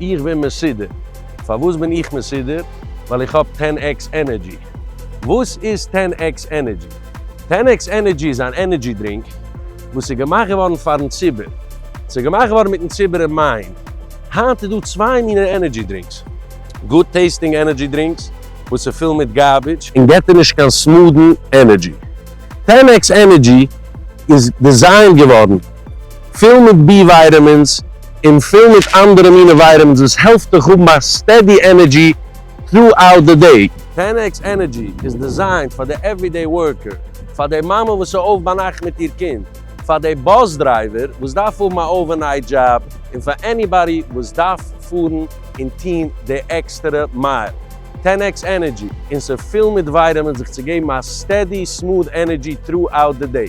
איך בין מסודר. פארוואס בין איך מסודר? ווייל איך האב טען עקס ענערדזשי. וואס איז טען עקס ענערדזשי? טען עקס ענערדזשי איז אן ענערדזשי דרינק וואס איז געמאכט געווארן פארן ציבור. ס'איז געמאכט געווארן מיטן ציבור אין מיינד. היינט איז דא צוויי מינע ענערדזשי דרינקס. גוד טעיסטינג ענערדזשי דרינקס וואס איז פול מיט גארבידזש און געט דיר נישט קיין סמודן ענערדזשי. טען עקס ענערדזשי איז דיזיינד געווארן. פול מיט בי ווייטעמינס און פול מיט אנדערע מינע ווייטעמינס וואס העלפט דיך האבן א סטעדי ענערדזשי טרו-אוט די דעי. טען-עקס ענערדזשי איז דעזיינט פאר די עוורידעי ווארקער, פאר די מאמע וואס איז אויף ביינאכט מיט איר קינד, פאר די באס דרייווער וואס דארף האבן א אווערנייט דזשאב, און פאר עניבאדי וואס דארף פארן און טון די עקסטערע מייל. טען-עקס ענערדזשי און ס'פול מיט ווייטעמינס זיך צו געבן א סטעדי סמוד ענערדזשי טרו-אוט די דעי.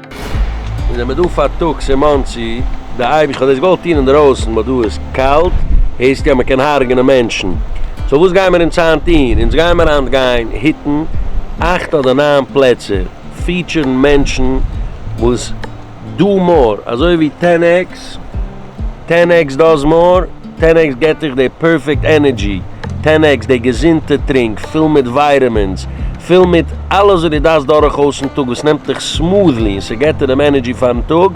אונז זעמער דא פארטאגס אין מאנסי, די אייביג כ'האב דאס געוואלט טון אינדערויסן באט דא איז קאלט, הערסט יא מ'קען הרג'נען מענטשן, סאו וואס גיימער אונז היינט טון? אונז גיימער היינט גיין היטן אכט אדער ניין פלעצער, פיעטשערן מענטשן וואס דא מאר אזוי ווי טען עקס, טען עקס דאס מאר. טען עקס געט דיך די פערפעקט ענערדזשי, טען עקס די געזונטע טרינק פול מיט ווייטעמינס, פול מיט אלעס וואס דו דארפסט דורכאויסן טאג וואס נעמט דיך סמוט'לי און ס'געט דיר דעם ענערדזשי פארן טאג,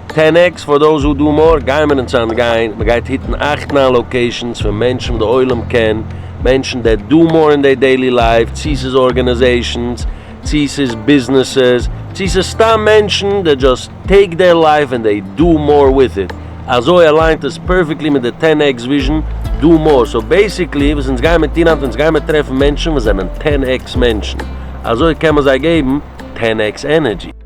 טען עקס פאר דאוז הו דו מאור, גיימער אונז אנגיין, מ'גייט היטן אכט ניין לאקעישאנס פון מענטשן וואס די עולם קען, מענטשן דעט דו מאור אין דעיר דעילי לייף, צו ס'איז ארגענעזעישאנס, צי ס'איז ביזנעסעס, צי ס'איז סתם מענטשן, דעי דזשאסט טעיק דעיר לייף און דעי דא מאר וויט איט, אזוי אליינט עס פערפעקטלי מיט די טען עקס וויזשן, דא מאר, סאו בעיסיקלי וואס אונז גיימער טון היינט אונז גיימער טרעפן מענטשן וואס זענען טען עקס מענטשן, אזוי קען מען זיי געבן טען עקס ענערדזשי.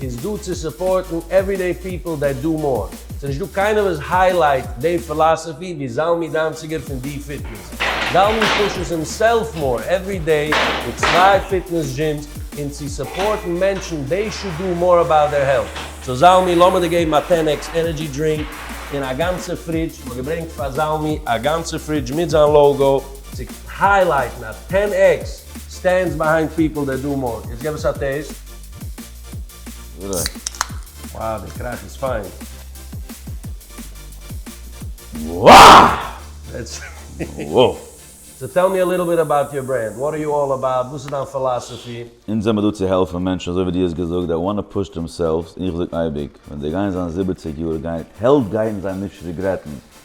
אונז דא צו סופארטן עוורידעי פיפל דעט דו מאר. ס'נישט דא קיינער וואס היילייט דעי פילאסעפי ווי זלמי דאנציגער פון די פיטנעס. זלמי פושעס הימסעלף מאר עוורידעי מיט צוויי פיטנעס דזשימס און צו סופארטן מענטשן דעי שוד דו מאר אבאוט דער העלט. סאו זלמי לאמיר דיר געבן א טען עקס ענערדזשי דרינק און א גאנצע פרידזש. כ'האב געברענגט פאר זלמי א גאנצע פרידזש מיט זיין לאוגאו צו היילייטן אז טען עקס סטענדס ביהיינד פיפל דעט דו מאר. יעצט געב עס א טעיסט. וואו די קראך איז פיין. וואו! סאו טעל מי א ליטעל ביט אבאוט יור ברענד, וואט אר יו אלל אבאוט, וואס איז דיין פילאסעפי? אונז זעמער דא צו העלפן מענטשן אזוי ווי דו האסט געזאגט זיי וואנט טו פוש דעמסעלווס און איך זאג אייביג ווען זיי גייען זיין זיבעציג יאר גייט העלט גייען זיי נישט ריגרעטן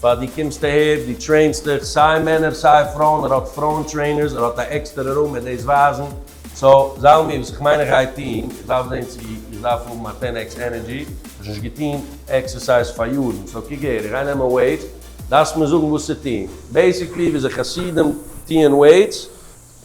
פאר דו קומסט אהער, דו טרעינסט דיך, סיי מענער סיי פרויען, ער האט פרויען טרעינערס, ער האט א עקסטערע רום מיט דאס ווייזן, סא זאל מיר, וואס איך מיין איך גיי טוהן, איך דארף זעהן צו איך דארף האבן א טען עקס ענערדזשי, איך האב נישט געטוהן עקסערסייז פאר יארן, סא קוק אהער, איך גיי נעמען וועיטס, דארפסט מיר זאגן וואס צו טוהן, בעיסיקלי וויאזוי חסידים טוהן וועיטס,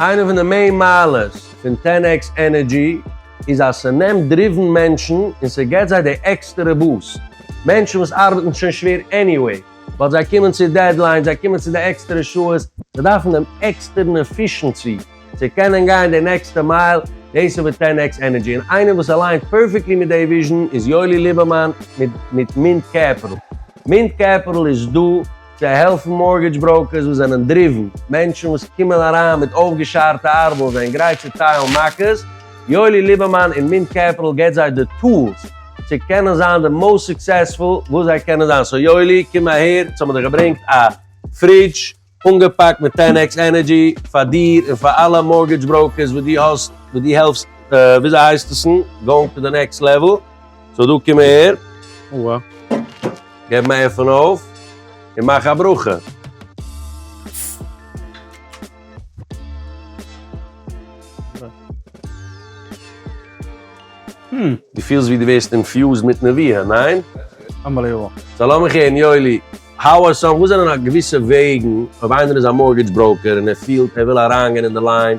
איינע פון די מעין מעלות פון טען עקס ענערדזשי איז אז ס'נעמט דריוון מענטשן און ס'געט זיי די עקסטערע בוסט. מענטשן וואס ארבעטן שוין שווער עניוועי, ווייל זיי קומען צו דעדליינס, זיי קומען צו די עקסטערע שעות, זיי דארפן דעם עקסטערן עפישענסי צו קענען גיין די נעקסטע מייל, דאס איז וואס טען עקס ענערדזשי און איינער וואס אליינט פערפעקטלי מיט די וויזשן איז יואלי ליבערמאן מיט מינט קעפיטל. מינט קעפיטל איז דא. זיי העלפן מארגעדזש בראוקערס וואס זענען דריוון, מענטשן וואס קומען אריין מיט אויפגעשארטע ארבעל און זענען גרייט צו טיילן מכות, יואלי ליבערמאן און מינט קעפיטעל געבט זיי די טולס צו קענען זיין די מאוסט סוקסעספול וואס זיי קענען זיין, סאו יואלי קום אהער, יעצט האבן מיר דיך געברענגט א פרידזש אנגעפאקט מיט טען עקס ענערדזשי פאר דיר און פאר אלע מארגעדזש בראוקערס וואס דו האסט וואס דו העלפסט וויאזויהייסטעסן גאוינג טו די נעקסט לעוועל, סאו דא קום אהער. אוה. געב אים א עפען אויף און מאך א ברכה. דו פילסט ווי דו ווערסט אינפיוזד מיט נביאה, ניין? אנבעליוועבל. סאו לאמיך הערן יואלי, האו אר סאם, וואס זענען א געוויסע וועגן אויב איינער איז א מארטגעדזש בראוקער און ער פילט ער וויל אריינגיין אין די ליין,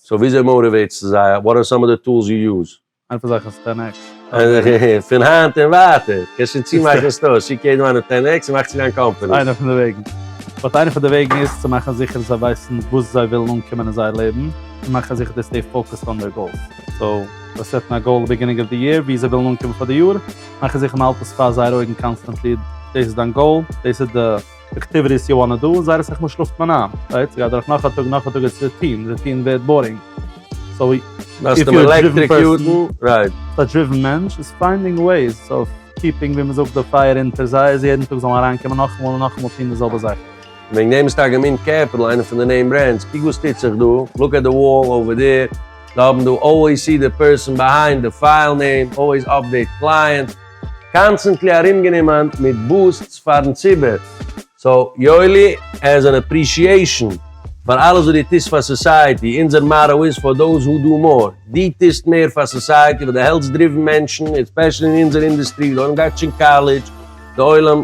סאו וויאזוי מאוטיוועטסטו זיי? וואט אר סאם אוו די טולס יו יוז? איין פון זיי הייסט טען עקס. פון היינט און ווייטער קענסט שוין צומאכן סטארס, שיק יעדן איינעם טען עקס און מאך צו דיין קאמפאני. ס'איינע פון די וועגן. באט איינע פון די וועגן איז צו מאכן זיכער זיי ווייסן וואס זיי ווילן אנקומען אין זייער לעבן, און מאכן זיכער די סטעי פאוקעסד אן דער גאולס. סאו זיי סעטן א גאול ביגינינג אוו די יער וואו זיי ווילן אנקומען פאר די יאר, מאכן זיכער מ'האלט עס פאר זייער אויגן קאנסטענטלי, דאס איז דיין גאול, דאס איז די. די כתיבה איז יא נאר דא און זייער אסאך מאל שלאפט מען איין, רייט? ס'גייט דורך נאך א טאג נאך א טאג איז רוטין, רוטין ווערט בארינג. סאו איף יו אר א דריווען פערסאן, א דריווען מענטש איז פיינדינג וועיס אוו קיפינג ווי מ'זאגט די פייער אונטער זיי אז יעדן טאג זאל מען אריינקומען נאכאמאל און נאכאמאל טון די זעלבע זאכן. וועגן דעם איז טאקע מינט קעפיטאל איינע פון די נעים ברענדס. קוק וואס טוט זיך דא, לוק עט די וואל אווער דעיר, זיי האבן דא אלוועיס סי די פערסאן ביהיינד די פייל נעים, אלוועיס אפדעיט קלייענט, קאנסטענטלי ארומגענומען מיט בוסטס פארן ציבור, סאו יואלי עז אן עפרישיעישאן פאר אלעס וואס דו טוסט פאר סאסייעטי, אונזער מאטא איז פאר דאוז הו דו מאר, דו טוסט מער פאר סאסייעטי ווייל דו העלפסט דריוון מענטשן, און ספעשעלי אין אונזער אינדוסטרי ווי די עולם גייט נישט אין קאלעדזש, די עולם.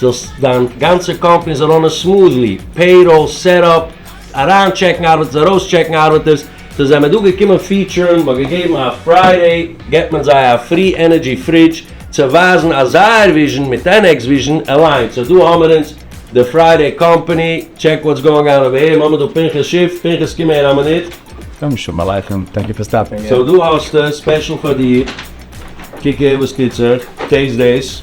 זאלסט דיין גאנצע קאמפאני זאל ראנען סמאדלי, פעיראל, סעטאפ, אריין טשעקן ארבעטערס, ארויס טשעקן ארבעטערס, סאו זיי מיר דא געקומען פיעטשערן, מ'האט געגעבן א פריידעי, געבט מען זיי א פרי ענערדזשי פרידזש, צו ווייזן אז זייער וויזשן מיט ענעק'ס וויזשן עליינט, סאו דא האמער אונז די פריידעי קאמפאני, טשעק וואטס גאאינג אן אווער העיר, מ'האמער דא פנחס שיף, פנחס קום אהער א מינוט. קודם שלום עליכם, טענק יו פאר סטאפינג אין. סאו דא האסטו, ספעשל פאר דיר, קוק אהער וואס טוט זיך, טעיסט דעיס.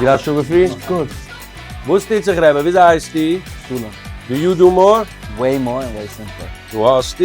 איר האט שוין געפרינט? אף קאורס. וואס טוט זיך רעבע? וויאזוי הייסטו? שלום. דו יו דו מאר? וועי מאר און וועי סימפלער. דא האסטו.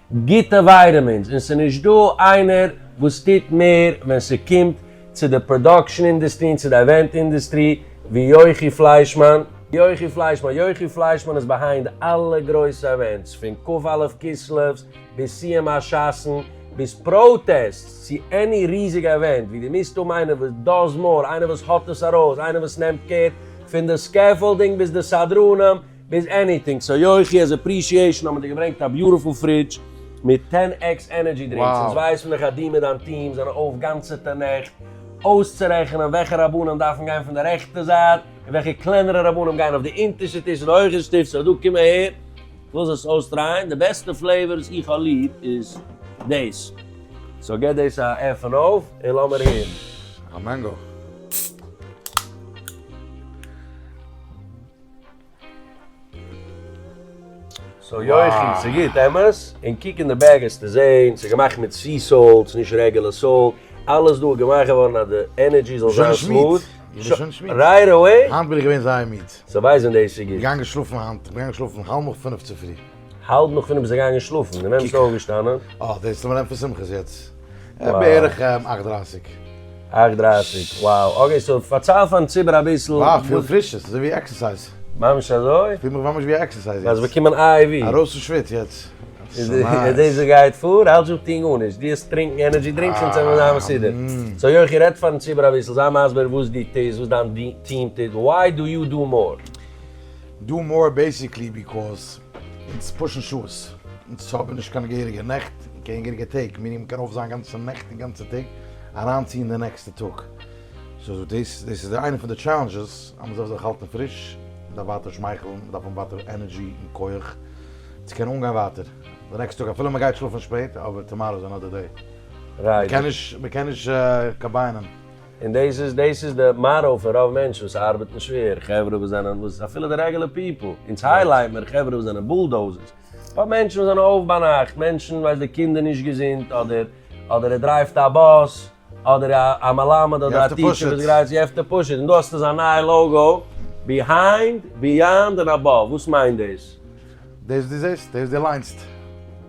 גוטע ווייטעמינס און ס'איז נישט דא איינער וואס טוט מער ווען ס'קומט צו די פראדאקשען אינדעסטרי און צו די עווענט אינדעסטרי ווי יוחי פליישמאן. יוחי פליישמאן יוחי פליישמאן איז בעהיינד אלע גרויסע עווענטס פון כ א כסלו'ס ביז סיום השס'ן ביז פראטעסטס צו עני ריזיגע עווענט ווי דו מוזט האבן איינער וואס דאז מאר איינער וואס האט עס ארויס איינער וואס נעמט קער פון די סקעפאלדינג ביז די סדרנים ביז עניטינג, סאו יוחי עז עפרישיעשאן האבן מיר דיר געברענגט א ביוטיפול פרידזש מיט טען עקס ענערדזשי דרינקס, אונז ווייסן דאך אז דו מיט דיין טיעם זענען אויף גאנצעטע נעכט אויסצורעכענען וועלכע רבנים דארפן גיין פון די רעכטע זייט און וועלכע קלענערע רבנים גייען אויף די אונטערשטע טיש און די הויכע שטיף, סאו דא קום אהער לאז עס אויסטרייען, די בעסטע פלעיוואר וואס איך האב ליב איז דאס, סאו גיב דאס א עפען אויף און לאמיר הערן. א מענגא. סאו יוחי, ס'גוט, אמת? און קוק אין די בעג העסטו זעהן, ס'איז געמאכט מיט סי סאלט, ס'איז נישט רעגולער סאלט, אלעס דא איז געמאכט געווארן אז די ענערדזשי זאל זיין סמוט. איך בין שוין שמיד. רייט אוועי? היינט בין איך געווען זייער מיד. זיי ווייסן דאס איז גוט? געגאנגען שלאפן היינט, כ'בין געגאנגען שלאפן האלב נאך פינף צופרי. האלב נאך פינעף ביסט געגאנגען שלאפן, און ווען ביסטו אויפגעשטאנען? אה, דער איז למען פון שמחות יעצט. בערך אכט דרייסיג. אכט דרייסיג, wow, אקעי סאו פארצייל פארן ציבור אביסל. אה, איך פיל פריש, ס'איז אזויווי עקסערסייז. ממש אזוי? כ'פיל מיך ממש ווי א עקסערסייז יעצט. האסט באקומען איי ווי? ארויס פון שוויץ יעצט. און דאס גייט פאר? האלט זיך טון גארנישט, דו האסט טרינקן ענערדזשי דרינקס און צענדלען זיין מסודר. סאו יוחי רעד פארן ציבור אביסל, זיי מסביר וואס דו טוסט, וואס דיין טיעם טוט, וויי דו יו דו מאר? דא מאר בעיסיקלי ביקאוז אונז פאשן שעות, אונז האבן נישט קיין געהעריגע נעכט און קיין געהעריגע טעג, מיר נעמען קער אויף זיין גאנצע נעכט און גאנצע טעג אריינציען די נעקסטע טאג, סאו דאס דאס איז איינע פון די טשעלענדזשעס אז מען זאל זיך האלטן פריש, מען דארף ווייטער שמייכלן, מען דארף האבן ווייטער ענערדזשי און כח צו קענען אנגיין ווייטער די נעקסטע טאג אפילו מען גייט שלאפן שפעט, אבער טאמאראו איז אנאדער דעי, מען קען נישט מען קען נישט קאמביינען. און דאס איז דאס איז די מארא פון רוב מענטשן וואס ארבעטן שווער, חברה וואס זענען וואס אפילו די רעגעלע פיפל, אונז הייליימער חברה וואס זענען בולדאוזערס, פאר מענטשן וואס זענען אויף ביינאכט, מענטשן ווייסט די קינד איז נישט געזונט, אדער אדער ער דרייווט א באס, אדער א מלמד אדער א טיטשער וואס גרייט זיך, יו העוו טו פוש איט, און דא האסטו זיין נייע לאוגו, ביהיינד, ביאנד און אבאוו, וואס מיינט דאס? דאס דו זעסט, דאס דו ליינסט.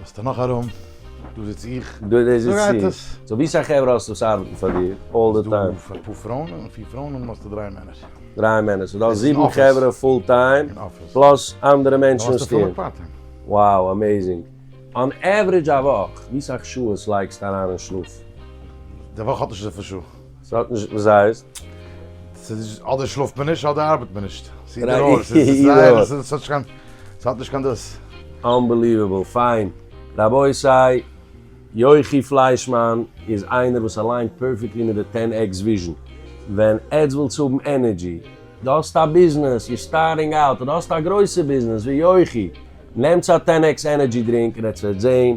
האסטו נאך ארום? דא זיץ איך. דא זיץ איך. סאו ווי סאך חברה האסטו וואס ארבעטן פאר דיר אלל די טיים? ס'דא פאר פראון און פיר פראון און האסטו דריי מענער. דריי מענער, סאו דו האסט זיבן חברה פול טיים פלאס אנדערע מענטשן וואס טוען. וואו אמעיזינג. אן עוורידזש א וואך ווי סאך שעות לייגסטו אריין אין שלאף? די וואך האט נישט אזויפיל שעה. ס'האט נישט וואס הייסט? ס'איז אדער שלאפט מען נישט אדער ארבעט מען נישט. ס'איז אידער אר. ס'איז זייער ס'האט נישט קיין ס'האט נישט קיין דאס. אנבעליוועבל פיין. רבותי, יוחי פליישמאן איז איינער וואס אליינט פערפעקטלי מיט די טען עקס וויזשען. ווען עטס ווילטס האבן ענערדזשי. דו האסט א ביזנעס, יור סטארטינג אוט, אדער האסט א גרויסע ביזנעס ווי יוחי, נעמטס א טען עקס ענערדזשי דרינק און עטס וועט זעהן.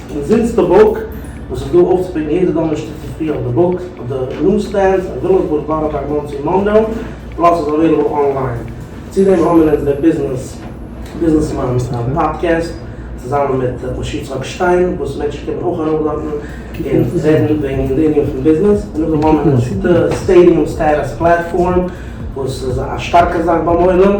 און זינט די בוק וואס איז דא אויפצופיקן יעדע דאנערשטאג צופרי אויף די בוק אויף די ניוז סטענדס אין ווילימסבורג בארא פארק מאנסי מאנרא פלאס איז אוועילעבל אנליין צו דעם האמיר אונז דער ביזנעס ביזנעס מאן פאדקעסט צוזאמען מיט משה יצחק שטיין וואס מענטשן קומען אויך ארויף דארטן און רעדן וועגן די ענין פון ביזנעס און נאכדעם האמיר אונז די סטעידיום סטעטוס פלעטפארם וואס איז א שטארקע זאך ביים עולם.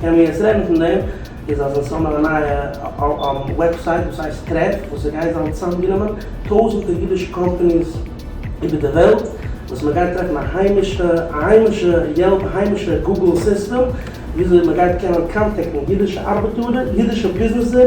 קען מען יעצט רעדן פון דעם, איז אז עס האבן א נייע וועבסייט וואס הייסט טרעף, וואס עס גייט זיין צוזאמגענומען טויזענטער אידישע קאמפאניס איבער די וועלט, וואס מען גייט טרעפן א היימישע א היימישע יעלפ, א היימישע גוגל סיסטעם, וויאזוי מען גייט קענען קאנטעקטן אידישע ארבעטארער, אידישע ביזנעסער.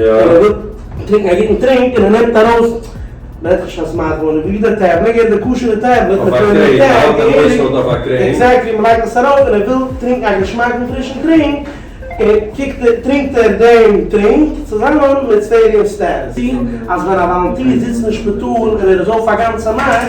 און ער וויל טרינקן א גוטן טרינק און ער נעמט ארויס נפש אז מה דמון ווי דער טעבלער געט די כשר'ע טעבלעט מיט די ניק טעג געהעריג עקזעקטלי און מ'לייגט עס ארויף און ער וויל טרינקן א געשמאקן פרישן טרינק און קוקט ער טרינקט ער דעם טרינק צוזאמען מיט ספעריעם סטעטוס אז ווען א וואלונטיר זיצט אין שפיטאל און ער איז אויף א גאנצע נאכט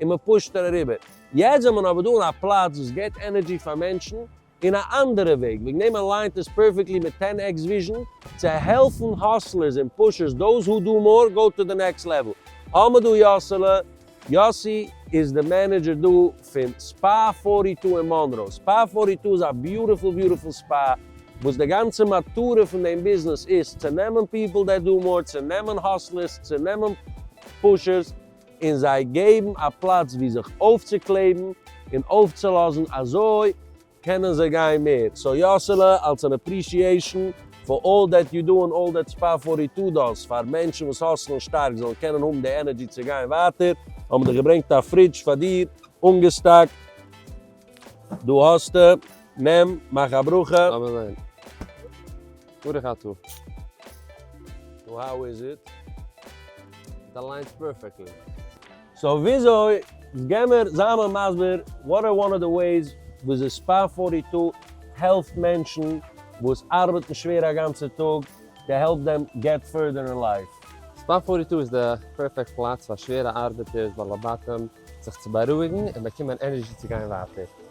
און מען פושט ער אריבער. יעצט זענען מיר אבער דא אין א פלאץ וואס געט ענערדזשי פאר מענטשן אין א אנדערע וועג, וועגן דעם אליינט עס פערפעקטלי מיט טען עקס וויזשען, צו העלפן האסלערס און פושערס דאוז הו דו מאר גאו טו די נעקסט לעוועל. האבן מיר דא יאסעלע, יאסי, איז די מענעדזשער דא פון ספא פארטי טו אין מאנרא. ספא פארטי טו איז א ביוטיפול ביוטיפול ספא, וואס די גאנצע מטרה פון דעם ביזנעס איז צו נעמען פיפל דעט דו מאר, צו נעמען האסלערס, צו נעמען פושערס, און זיי געבן א פלאץ ווי זיך אויפצוקלעבן און אויפצולאזן אזוי קענען זיי גיין מער, סאו יאסעלע אלס אן אפרישיעישן פאר אלל דעט יו דא און אלל דעט ספא פארטי טו דאס פאר מענטשן וואס האסלן שטארק זאלן קענען האבן די ענערדזשי צו גיין ווייטער האבן מיר דיך געברענגט א פרידזש פאר דיר אנגעסטאקט דא האסטו נעם מאך א ברכה. אמן. ברוך אתה. נו האו איז איט? איט אליינס פערפעקטלי. סאו וויאזוי? געמער זיי מיר מסביר וואט איז וואן אוו די וועיס וויאזוי ספאר פארטי טו העלפט מענטשן וואס ארבעטן שווער א גאנצע טאג טו העלפ דעם געט פורדער אין לייף? ספאר פארטי טו איז די פערפעקט פלאץ פאר שווערע ארבעטערס, בעלי בתים, זיך צו בארואיגן און באקומען ענערזשי צו גיין ווייטער.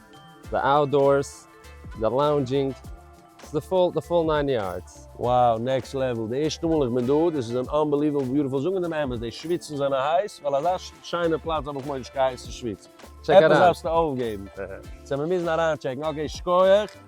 די אוטדארס, די לאונדזשינג, די פול, די פול ניין יארדס. Wow נעקסט לעוועל די ערשטע מאל איך בין דא, דאס איז אן אנבעליוועבל ביוטיפול זאגן דעם אמת די שוויצן זענען הייס, ווייל אזא שיינע פלאץ האב איך מורא נישט קיין הייסע שוויץ, עפעס דארפסטו אויפגעבן, סא מיר מוזן אריינטשעקן, אקעי שקויעך.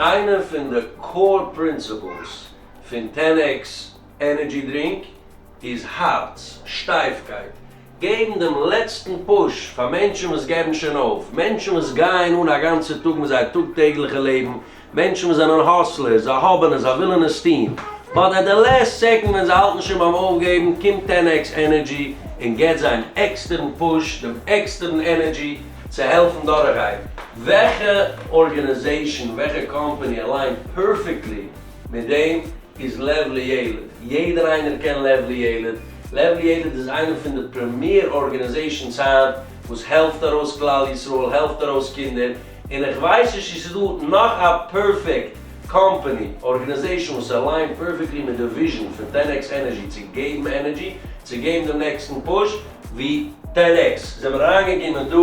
איינע פון די קאור פרינסיפלס פון טען עקס ענערדזשי דרינק איז הארץ שטייפקייט, געבן דעם לעצטן פוש פאר מענטשן וואס געבן שוין אויף, מענטשן וואס גייען אן א גאנצע טאג מיט זייער טאג טעגליכע לעבן מענטשן וואס זענען האסלערס, זיי האבן עס, זיי ווילן עס טון, באט עט די לעסט סעקאנד ווען זיי האלטן שוין ביים אויפגעבן, קומט טען עקס ענערדזשי און געט זיי דעם עקסטערן פוש, דעם עקסטערן ענערדזשי צו העלפן דורכגיין. וועלכע ארגענעזעישאן, וועלכע קאמפאני אליינט פערפעקטלי מיט דעם איז לב לילד? יעדער איינער קען לב לילד. לב לילד איז איינע פון די פרעמיער ארגענעזעישאנס היינט וואס העלפט ארויס כלל ישראל, העלפט ארויס קינדער, און איך ווייס נישט צו ס'דא נאך א פערפעקט קאמפאני, ארגענעזעישן וואס אליינט פערפעקטלי מיט די וויזשן פון טען עקס ענערזשי צו געבן ענערזשי, צו געבן דעם נעקסטן פוש ווי טען עקס. זעמיר אריינגעקומען דא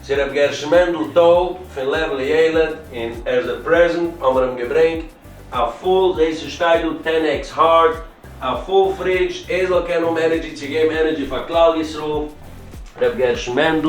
צו ר' גרשון מענדל טאוב פון לעוועל איילת און עז ע פרעזענט האמיר אים געברענגט א פול, זעהסט עס שטייט דא טען עקס הארד, א פול פרידזש, ער זאל קענען האבן ענערזשי צו געבן ענערזשי פאר כלל ישראל. ר' גרשון מענדל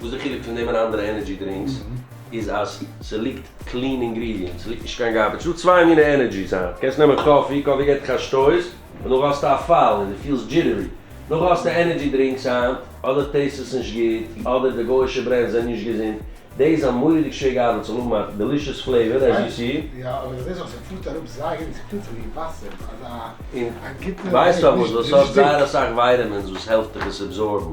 וואס די חילוק פון דעם און אנדערע ענערדזשי דרינקס איז אז ס'ליגט קלין אינגרידיענטס, ס'ליגט נישט קיין גארבעדזש, ס'דא צוויי מינע ענערדזשיס היינט, קענסט נעמען קאפי, קאפי געט דיך א שטויס און דאך האסטו א פאל און דו פילסט דזשיטערי, דאך האסטו ענערדזשי דרינקס היינט, אדער טעיסט עס נישט גוט, אדער די גויאישע ברענדס זענען נישט געזונט, דעי איז א מורא'דיג שווער געארבעט צו האבן א דעלישעס פלעיווער עז יו סי. יא אבער כ'זעה זיך ס'פארט אראפ זייער אין ס'פיהלט זיך ווי וואסער אזא א גוטע וועג נישט נישט דיק. ווייסט פארוואס? ווייל ס'האט זייער אסאך ווייטעמינס וואס העלפט דיך עס עבזארבן.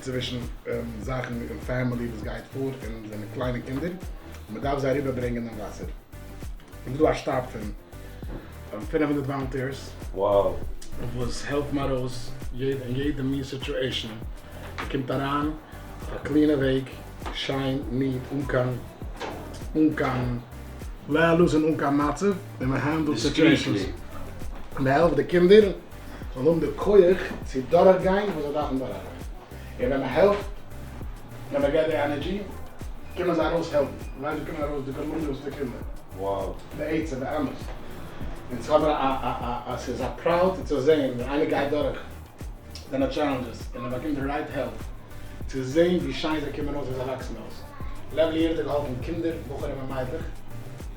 צווישן זאכן אין פעמילי וואס גייט פאר און זענען קליינע קינדער און מען דארף זיי אריבער ברענגען אין וואסער איז דא א שטאב פון פֿינף הונדערט וואלונטירס וואס העלפן ארויס אין יעדע מין סיטואשען מען קומט אריין אויף א קלינע וועג שיין ניעט אן קיין אן קיין לעלאס און אן קיין מצב און מען הענדלט סיטואשענס מען העלפט די קינדער. זאל האבן די כח צו דורך גיין וואס זיי דארפן דורך גיין, און ווען מען העלפט, ווען מען געט די ענערדזשי, קומען זיי ארויס העלפן, און ליידער קומען ארויס די גאלאניאוסטע קינדער, בעצם באמת, און ס'איז אבער א א א א ס'איז א פראוד צו זען ווען איינער גייט דורך זיינע טשעלענדזשעס און ער באקומט די רייט העלפ, צו זען ווי שיין זיי קומען אויס ווען זיי וואקסן אויס, לעוועל יעדער האט געהאלפן קינדער, בחורים און מיידלעך.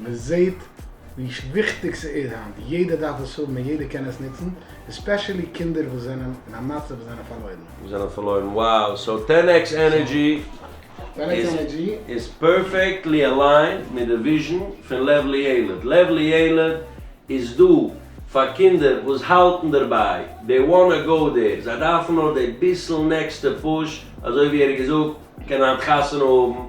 מען זעהט ווי וויכטיג ס'איז היינט, יעדער דארף עס האבן און יעדער קען עס נוצן, עספעשעלי קינדער וואס זענען אין א מצב וואס זענען פארלוירן. וואס זענען פארלוירן, wow, סאו טען עקס ענערדזשי איז פערפעקטלי אליינד מיט די וויזשן פון לב לילד, לב לילד איז דא פאר קינדער וואס האלטן דערביי, דעי וואנא גאו דער, זיי דארפן נאר דעי ביסל נעקסטע פוש, אזוי ווי ער האט געזאגט, מען קען היינט חתונה האבן,